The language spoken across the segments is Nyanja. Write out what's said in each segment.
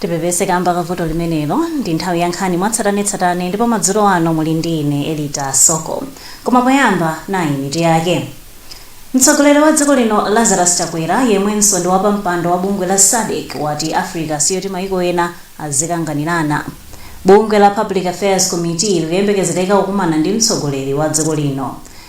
tipepese kamba ka vuto limenelo ndi nthawi ya nkhani mwatsatanetsatane ndipo madzulo ano muli ndi ine elita soko koma poyamba nayi mitu yake mtsogoleri wa dziko lino lazarus chakwera yemwenso ndi wapampando wa bungwe la sadc wati africa siyoti maiko ena azikanganirana bungwe la public affairs committee likuyembekezereka kukumana ndi mtsogoleri wa dziko lino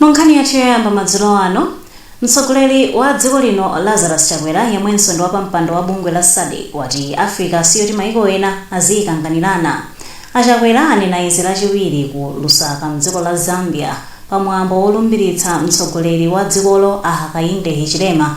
mu nkhani yathu yoyamba madzulo ano mtsogoleri wa dziko lino lazarus chakwera yemwenso ndi wapampando wa bungwe la sadc wati africa siyoti maiko ena aziyikanganirana achakwera anena izi lachiwiri ku lusaka mdziko la zambia pamwambo wolumbiritsa mtsogoleri wa dzikolo a hakainde hichilema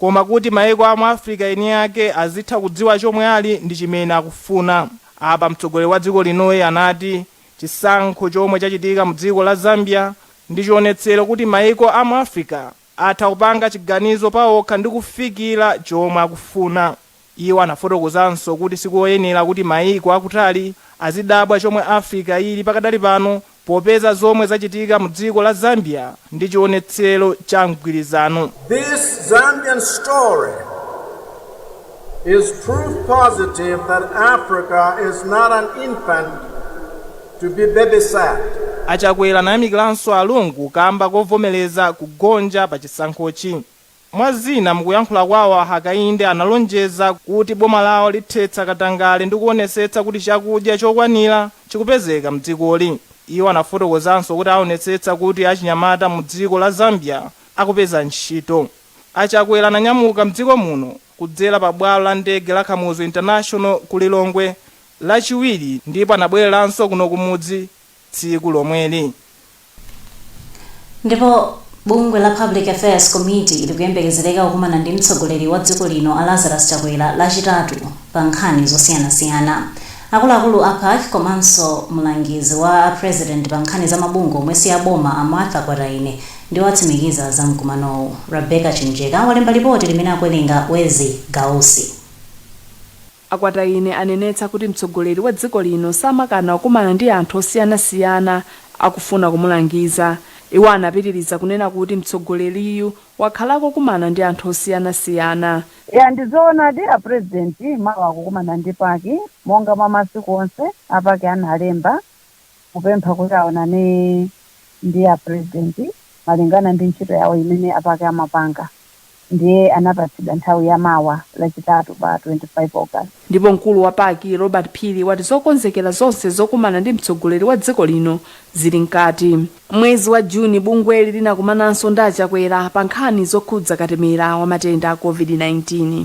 koma kuti maiko a mu Africa eni ake azitha kudziwa chomwe ali ndi chimene akufuna. Apa mtsogoleri wa dziko linoyi anati chisankho chomwe chachitika mu dziko la Zambia ndi chionetsero kuti maiko a mu Africa atha kupanga chiganizo paokha ndi kufikira chomwe akufuna. Iwo anafotokozanso kuti sikoyenela kuti mayiko akutali azidabwa chomwe Africa ili pakadali pano popeza zomwe zachitika mu dziko la Zambia ndi chionetselo cha mgwilizano. This Zambian story is proof positive that Africa is not an infant to be babysat. A Chakwera anayamikilanso a Lungu kamba kovomeleza kugonja pa chisankhochi. Mwa zina, mukuyankhula kwawo a Hakainde analonjeza kuti boma lawo lithetsa katangale ndi kuonetsetsa kuti chakudya chokwanira chikupezeka mdzikoli. Iwo anafotokozanso kuti aonetsetsa kuti achinyamata mu dziko la Zambia akupeza ntchito. A Chakwera ananyamuka mdziko muno kudzera pa bwalo la ndege la Kamuzu International ku Lilongwe lachiwiri ndipo anabweleranso kuno kumudzi tsiku lomweli. Ndipo bungwe la Public Affairs Committee likuyembekezereka kukumana ndi mtsogoleri wa dziko lino a Lazarus Chakwera lachitatu pa nkhani zosiyanasiyana. Akuluakulu a pac komanso mlangizi wa a President pa nkhani za mabungwe omwe si a boma a Martha Kwataine ndiwo atsimikiza za mkumanowu. Rebecca Chimjeka walemba lipoti limene akuwerenga Wezzie Gausi. A Kwataine anenetsa kuti mtsogoleri wa dziko lino samakana kukumana ndi anthu osiyanasiyana akufuna kumulangiza. Iwo anapitiliza kunena kuti mtsogoleriyu wakhala akukumana ndi anthu osiyanasiyana. Eya ndi zoonadi a president mawa akukumana ndi pac monga mwa masiku onse, a pac analemba kupempha kuti aonane ndi a president malingana ndi ntchito yawo imene a pac amapanga ndiye anapatsidwa nthawi ya mawa lachitatu pa 25 August. Ndipo mkulu wa pac Robert Phiri wati zokonzekera zonse zokumana ndi mtsogoleri wa dziko lino zili mkati. Mwezi wa June bungweli linakumananso ndi a Chakwera pa nkhani zokhudza katemera wa matenda a Covid-19.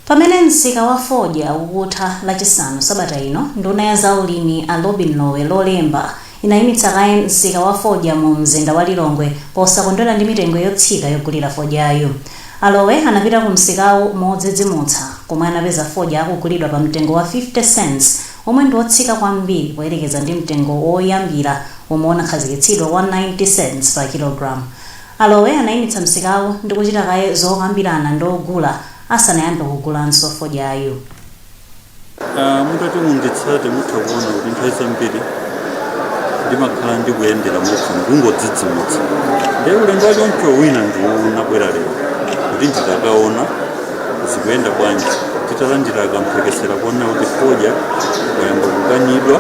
Pamene msika wa fodya ukutha lachisanu sabata ino, nduna ya za ulimi a Lobin Lowe Lolemba inayimitsa kaye msika wa fodya mu mzinda wa Lilongwe posakondwera ndi mitengo yotsika yogulira fodyayu. A Lowe anapita ku msikawu modzidzimutsa komwe anapeza fodya akugulidwa pa mtengo wa 50 cents womwe ndi wotsika kwambiri poyerekeza ndi mtengo woyambira womwe unakhazikitsidwa wa 90 cents pa kilogram. Alowe anaimitsa msikawu ndi kuchita kaye zokambirana ndi ogula asanayambe kugulanso fodyayu. Mutati munditsate mutha kuona kuti nthawi zambiri ndimakhala ndikuyendera moti ndingodzidzimutsa. Ndiye ulendo wachoncho wina ndi uwu ndabwera lero kuti nditakaona. zikuyenda bwanji titalandira kamphekesera kunena kuti fodya wayamba kukanidwa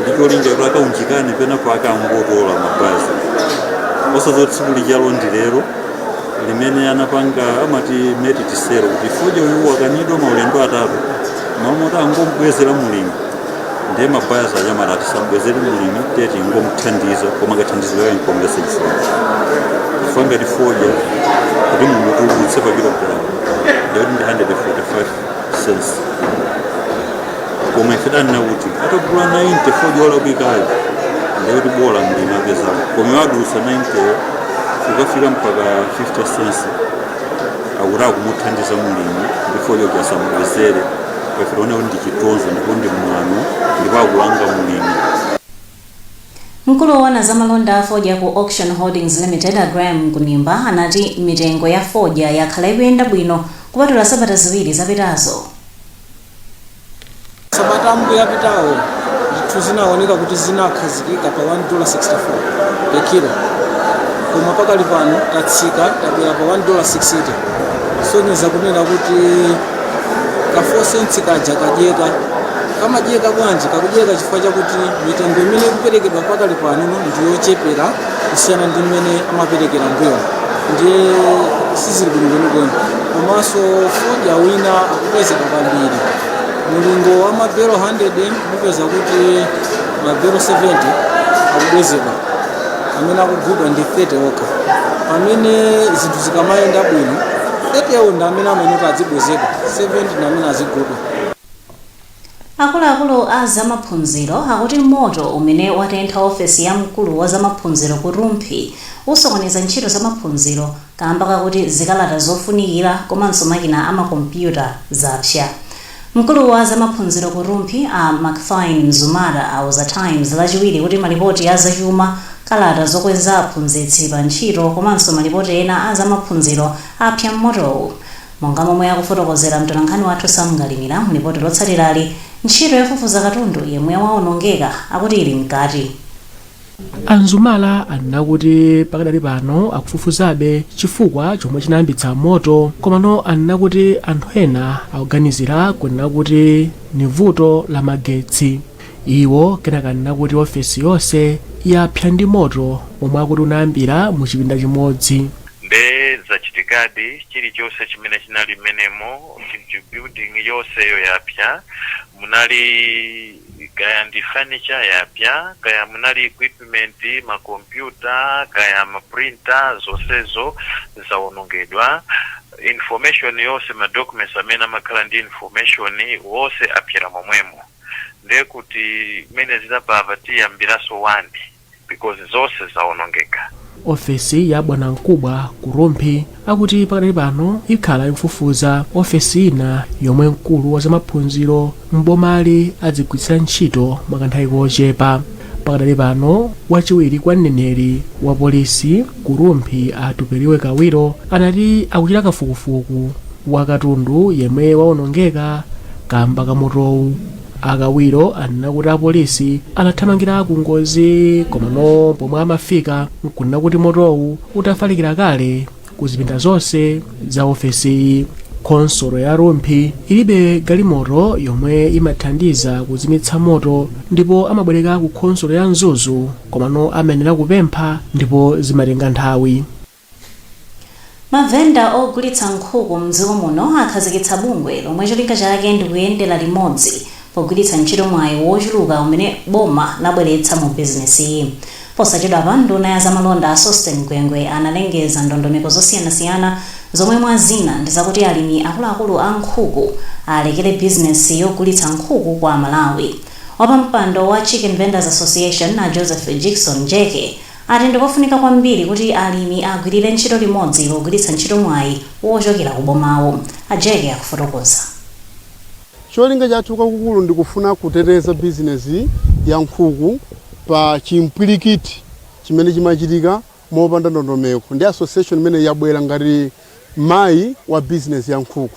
ndi cholinga kuti akaunjikane penapo akangotola mapazi osazoti tsiku lijalo ndi lero limene anapanga amati masitisero kuti fodya uyu wakanidwa maulendo atatu m'malo moti angombwezera mulimi ndiye mabayazi amati tisambwezere mlimi tiyeni ingomthandiza koma kathandizidwe kake nkomvetsa chisoni chifukwa ngati fodya kuti mumutulutse pa kilogalamu ndikuti ndi 145 cents koma ife tanena kuti atagula 90 fodya olakwikayo ndikuti bola mlimi apezako koma wadutsa 90 ukafika mpaka 50 cents akuti akumuthandiza mlimi ndi fodya kuti asamubwezere ife tione kuti ndi chitonzo ndipo ndi mwano ndipo akulanga mlimi Mkulu woona za malonda a fodya ku Auction Holdings Limited a Graham Kunimba anati mitengo ya fodya yakhala ikuyenda bwino kupatula sabata ziwiri zapitazo. sabata ambuyo apitawo zinthu zinaoneka kuti zinakhazikika pa 1 dola 64 per kilo koma pakali pano tatsika tabwera pa 1 dola 60 kusonyeza kunena kuti kafosensi kaja kadyeka kamadyeka bwanji kakudyeka chifukwa chakuti mitengo imene ikuperekedwa pakali pano ndi yochepera kusiyana ndi imene amaperekera mbuyomu ndiye sizili bwino kwenikweni komanso fodya wina akubwezedwa kwambiri mulingo wa mabelo 100 mupeza kuti mabelo 70 akubwezedwa amene akugulidwa ndi 30 okha pomwe zinthu zikamayenda bwino 30 yawo ndi amene amayenera azibwezedwa 70 ndi amene azigulidwa Akuluakulu a zamaphunziro akuti moto umene watentha ofesi ya mkulu wa zamaphunziro ku Rumphi usokoneza ntchito zamaphunziro kaamba kakuti zikalata zofunikira komanso makina a makompyuta zapsa. Mkulu wa za maphunziro ku Rumphi a Macfine Mzumara auza Times lachiwiri kuti malipoti a zachuma, kalata zokweza aphunzitsi pa ntchito komanso malipoti ena a za maphunziro apsa mmotowu. Monga momwe akufotokozera mtolankhani wathu Sam Kalimira mu lipoti lotsatirali, ntchito yofufuza katundu yemwe waonongeka akuti ili mkati. a mzumara anena kuti pakadali pano akufufuzabe chifukwa chomwe chinayambitsa moto komano anena kuti anthu ena akuganizira kunena kuti ni vuto la magetsi iwo kenaka anena kuti ofesi yonse yapsa ndi moto omwe akuti unayambira mu chipinda chimodzi nde zachitikadi chilichonse chimene chinali mmenemo building yonseyo yapsa munali Kaya ndi furniture yapsa, kaya munali equipment, ma computer, kaya ma printer, zonsezo zawonongedwa. Information yonse, ma documents amene amakhala ndi information wonse apyera momwemo. Ndekuti mene ziliri apa tiyambiraso 1. because zonse zawonongeka ofesi ya bwanamkubwa ku rumphi akuti pakadali pano ikhala ikufufuza ofesi ina yomwe mkulu wa zamaphunziro m'bomali adzigwiritsira ntchito mwakanthawi kochepa pakadali pano wachiwiri kwa mneneri wa polisi ku rumphi a tupeliwe kawiro anati akuchita kafukufuku wa katundu yemwe wawonongeka kamba ka motowu a kawiro anena kuti apolisi anathamangira ku ngozi komano pomwe amafika nkunena kuti motowu utafalikira kale ku zipinda zonse za ofesiyi khonsolo ya rumphi ilibe galimoto yomwe imathandiza kuzimitsa moto ndipo amabwereka ku khonsolo ya mzuzu komano amayenera kupempha ndipo zimatenga nthawi Mavenda ogulitsa nkhuku m'dziko muno akhazikitsa bungwe lomwe cholinga chake ndi kuyendera limodzi pogwiritsa ntchito mwayi wochuluka umene boma labweretsa mu bizinesiyi. Posachedwapa, nduna ya zamalonda a Sosten Gwengwe analengeza ndondomeko zosiyanasiyana zomwe mwa zina ndi zakuti alimi akuluakulu a nkhuku alekere bizinesi yogulitsa nkhuku kwa Amalawi. Wapampando wa Chicken Vendors Association a Joseph Jickson Jeke ati ndikofunika kwambiri kuti alimi agwilire ntchito limodzi pogwiritsa ntchito mwayi wochokera ku bomawo. A Jeke akufotokoza. Cholinga chathu kwakukulu ndikufuna kuteteza bizinezi ya nkhuku pa chimpwilikiti chimene chimachitika mopanda ndondomeko ndi association imeneyi yabwera ngati mayi wa bizinezi ya nkhuku.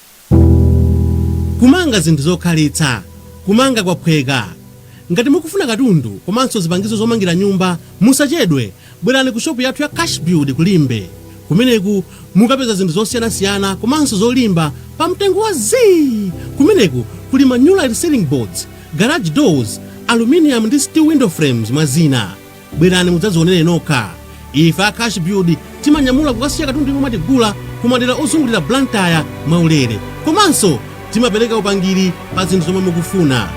Kumanga zinthu zokhalitsa, Kumanga kwaphweka. Ngati mukufuna katundu komanso zipangizo zomangira nyumba, musachedwe, bwerani ku shopu yathu ya Cashbuild ku Limbe. Kumeneku mukapeza zinthu zosiyanasiyana komanso zolimba pa mtengo wa zii! Kumeneku kuli ma Nulite Ceiling Boards, Garage Doors, Aluminium ndi Steel Window Frames mwa zina. Bwerani mudzadzionere nokha. Ife a Cashbuild timanyamula kukasiya katundu yemwe mwatigula ku madera ozungulira Blantyre mwaulere. Komanso timapereka upangiri pa zinthu zomwe mukufuna.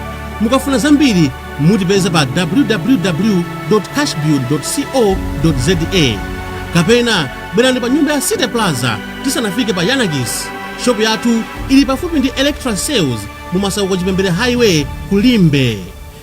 Mukafuna zambiri mutipeza pa www.cashbuild.co.za kapena bwerani pa nyumba ya City Plaza tisanafike pa Yanakis. Shopu yathu ili pafupi ndi Electra Sales mu Masauko Chipembere Highway ku Limbe.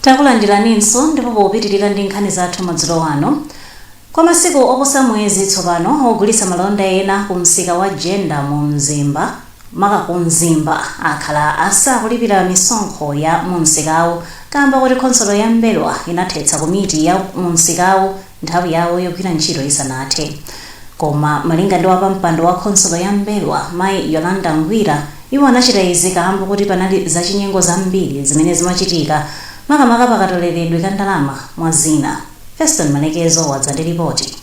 takulandiraninso ndipo popitirira ndi nkhani zathu madzulo ano kwa masiku oposa mwezi tsopano ogulitsa malonda ena ku msika wa jenda mu mzimba maka ku mzimba akhala asakulipira misonkho ya mu msikawu kamba kuti khonsolo ya mbelwa inathetsa komiti ya mu msikawo nthawi yawo yogwira ntchito isanathe. Koma, malinga ndi wapampando wa khonsolo ya Mbelwa, mayi Yolanda Ngwira, iwo anachita izi kaamba koti panali zachinyengo zambiri zimene zimachitika, makamaka pa katoleredwe ka ndalama, mwa zina. Feston Malekezo wadza ndi lipoti.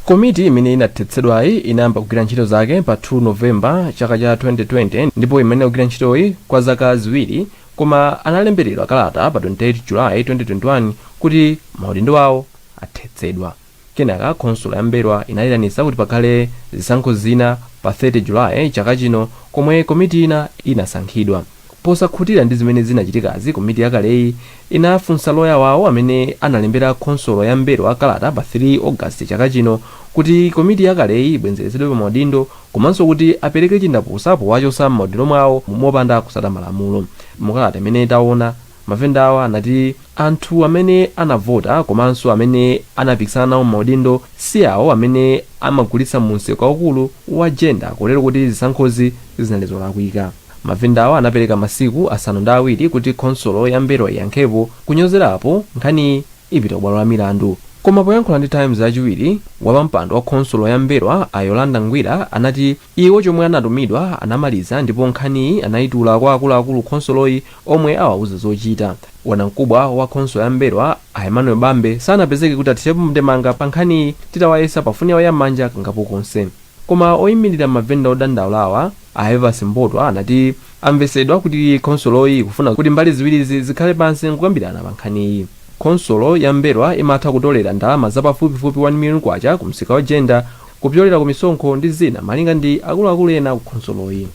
Komiti imene inathetsedwayi inayamba kugwira ntchito zake pa 2 November chaka cha 2020 ndipo imayenera kugwira ntchitoyi kwa zaka ziwiri Koma analemberedwa kalata pa 28 July 2021 kuti maudindo awo athetsedwa. Kenaka khonsolo ya M'mbelwa inayitanitsa kuti pakhale zisankho zina pa 30 July chaka chino komwe komiti ina inasankhidwa. Posakhutira ndi zimene zinachitikazi komiti yakaleyi inafunsa loya wawo amene analembera khonsolo ya M'mbelwa kalata pa 3 August chaka chino kuti komiti yakaleyi ibwenzeretsedwe pa maudindo komanso kuti apereke chindapusa powachotsa m'maudindo mwawo mopanda kutsata malamulo. Mu kalata imene taona, mavendawa anati anthu amene anavota komanso amene anapikisana nawo m'maudindo si awo amene amagulitsa mu msika waukulu wa Jenda kotero kuti zisankhozi zinali zolakwika. Mavendawa anapereka masiku asanu ndi awiri kuti khonsolo ya Mbelwa iyankhepo, kunyozerapo, nkhaniyi. ipita kubwalo la milandu. Koma poyankhula ndi Times Lachiwiri, wapampando wa khonsolo ya M'mbelwa a Yolanda Ngwira anati iwo chomwe anatumidwa anamaliza ndipo nkhaniyi anayitula kwa akuluakulu khonsoloyi omwe awauza zochita. Bwanamkubwa wa khonsolo ya M'mbelwa a Emmanuel Bambe sanapezeke kuti athirepo ndemanga pa nkhaniyi titawayesa pa foni yawo ya m'manja kangapo konse. Koma oimilira mavenda odandaulawa, a Evans Mbotwa anati amvetsedwa kuti khonsoloyi ikufuna kuti mbali ziwirizi zikhale pansi nkukambirana pa nkhaniyi. Khonsolo ya M'mbelwa imatha kutolera ndalama za pafupifupi K1 million ku msika wa Jenda kupyolera ku misonkho ndi zina malinga ndi akuluakulu ena ku khonsoloyi.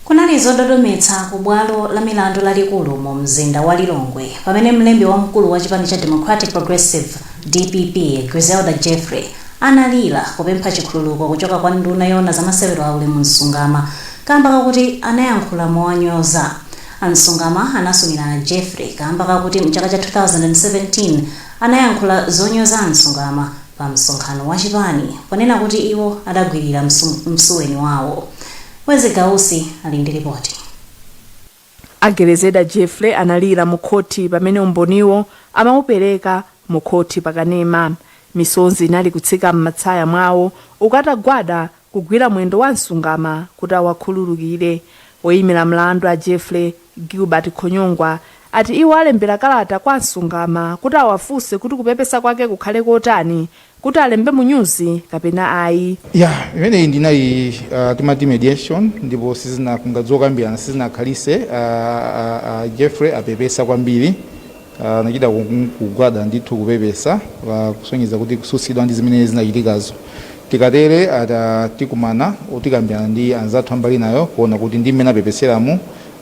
Kunali zododometsa ku bwalo la milandu lalikulu mu mzinda wa Lilongwe pamene mlembi wamkulu wa chipani cha Democratic Progressive, DPP, Grezelder Jeffrey analira kupempha chikhululuko kuchoka kwa nduna yoona za masewero a Ulemu Msungama kamba kakuti anayankhula mowanyoza. A Msungama anasumira a Jeffrey kamba kakuti mchaka cha 2017, anayankhula zonyoza a Msungama pa msonkhano wa chipani ponena kuti iwo adagwirira msuweni wawo. Wezzie Gausi ali ndi lipoti. A Grezelder Jeffrey analira mu khothi pamene umboniwo amaupereka mu khothi pa kanema. Misonzi inali kutsika m'matsaya mwawo uku atagwada kugwira mwendo wa a Msungama kuti awakhululukire. Oyimira mlandu a Jeffrey Gilbert Khonyongwa ati iwo alembera kalata kwa a Msungama kuti awafunse kuti kupepesa kwake kukhale kotani, kuti alembe mu nyuzi kapena ayi. Yeah imeneyi ndi inali uh, timati mediation ndipo sizina kungoti zokambirana sizinakhalitse uh, uh, uh, Jeffrey apepesa kwambiri anachita kugwada ndithu kupepesa kusonyeza kuti kukhudzidwa ndi zimene zinachitikazo tikatere ata tikumana tikambirana ndi anzathu a mbali inayo kuona kuti ndi mmene apepeseramu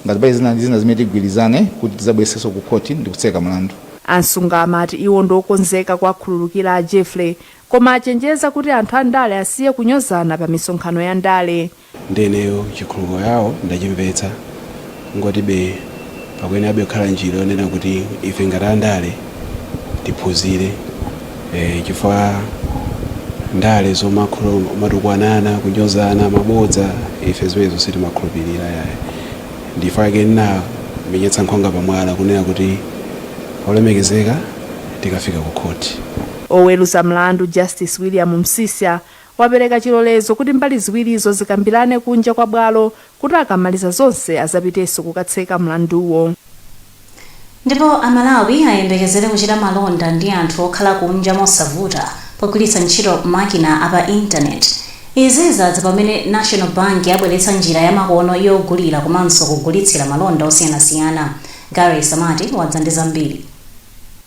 ngati pali zina ndi zina zimene tigwirizane kuti tidzabweretsenso ku khoti ndi kutseka mlandu A Msungama ati iwo ndi okonzeka kuwakhululukira a Jeffrey koma achenjeza kuti anthu andale asiye kunyozana pa misonkhano ya ndale. Nde ineyo chikhululuko yawo ndachimvetsa kungoti be pakuyenerabe kukhala njira yonena kuti ife ngati andale tiphunzire eeh chifukwa ndale zomatukwanana, kunyozana, mabodza ife zimenezo sitimakhulupilira yayi ndichifukwa chake ndinamenyetsa nkhwanga pa mwala kunena kuti olemekezeka tikafika ku khoti. Oweluza mlandu Justice William Msisya wapereka chilolezo kuti mbali ziwirizo zikambirane kunja kwa bwalo kuti akamaliza zonse azapitenso kukatseka mlanduwo. Ndipo a Malawi ayembekezere kuchita malonda ndi anthu okhala kunja mosavuta pogwiritsa ntchito makina a pa internet. Izi zadza pamene National Bank yabweretsa njira ya makono yogulira komanso kugulitsira malonda osiyanasiyana. Gary Samati wadza ndi zambiri.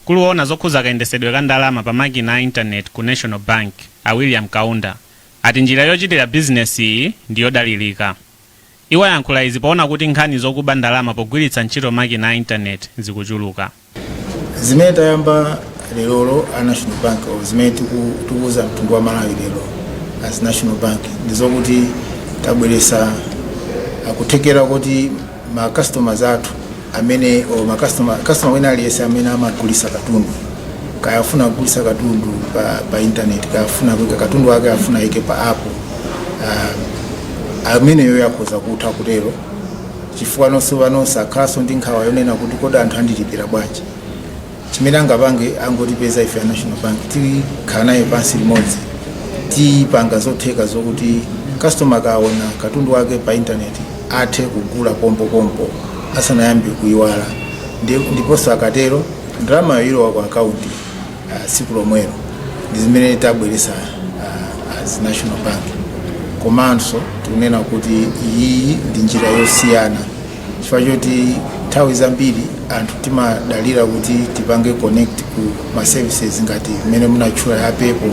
Mkulu woona zokhudza kayendesedwe ka ndalama pa makina a internet ku National Bank, a William Kaunda ati njira yochitira bizinesiyi ndi yodalirika. Iwo ayankhula izi poona kuti nkhani zokuba ndalama pogwiritsa ntchito makina a internet zikuchuluka. Zimene tayamba lerolo a National Bank or zimene tiku- tikuwuza mtundu wa Malawi lero as National Bank ndizokuti tabweresa akuthekera kuti ma customers athu amene or ma customer customer wina aliyense amene amagulisa katundu kaya afuna kugulisa katundu pa, pa internet kaya afuna kuika katundu wake afuna ike pa app uh, ameneyo akhoza kutha kutero chifukwa nonse panonse akhalanso ndi nkhawa yonena kuti kodi anthu andilipira bwanji chimene angapange angotipeza ife a national bank tikhala naye pansi limodzi tipanga zotheka zokuti customer akaona katundu wake pa intaneti athe kugula pompopompo asanayambe kuyiwala Ndi- ndiponso akatero ndalama yoilowa ku akaunti ah, tsiku lomwelo ndi zimene tabweresa ah, as national bank komanso tikunena kuti iyi ndi njira yosiyana chifukwa choti nthawi zambiri anthu timadalira kuti tipange connect ku ma services ngati mmene munatchula za PayPal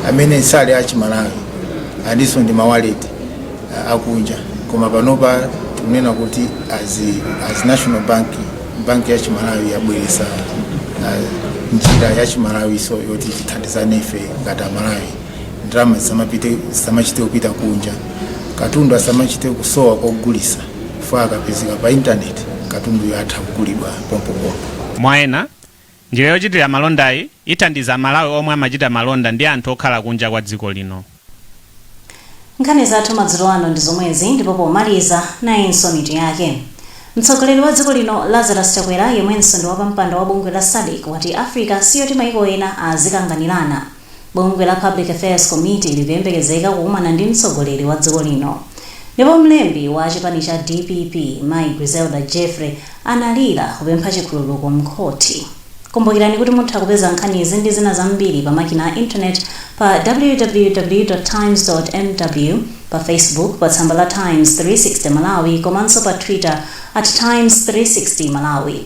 amene sali a chimalawi alinso ndi mawaleti uh, akunja koma panopa tikunena kuti as, as national bank banki ya chimalawi yabweresa uh, njira ya chimalawinso yoti tithandizane ife ngati amalawi ndalama zisamapite zisamachite kupita kunja katundu asamachite kusowa kogulisa chifukwa akapezeka pa intaneti, katunduyo atha kugulidwa pompopompo. Mwa ena, njira yochitira malondayi ithandiza Amalawi omwe amachita malonda ndi anthu okhala kunja kwa dziko lino. Nkhani zathu madzulo ano ndi zomwezi ndipo pomaliza nayinso mitu yake. Mtsogoleri wa dziko lino Lazarus Chakwera yemwenso ndi wapampando wa bungwe la Sadc wati Africa siyoti maiko ena azikanganirana. Bungwe la Public Affairs Committee likuyembekezeka kukumana ndi mtsogoleri wa dziko lino. Ndipo mlembi wa chipani cha dpp mayi Grezelder Jeffrey analira kupempha chikhululuko m'khoti. Kumbukirani kuti mutha kupeza nkhanizi ndi zina zambiri pa makina a internet pa www.times.mw, pa Facebook pa tsamba la Times 360 Malawi komanso pa Twitter at Times 360 Malawi.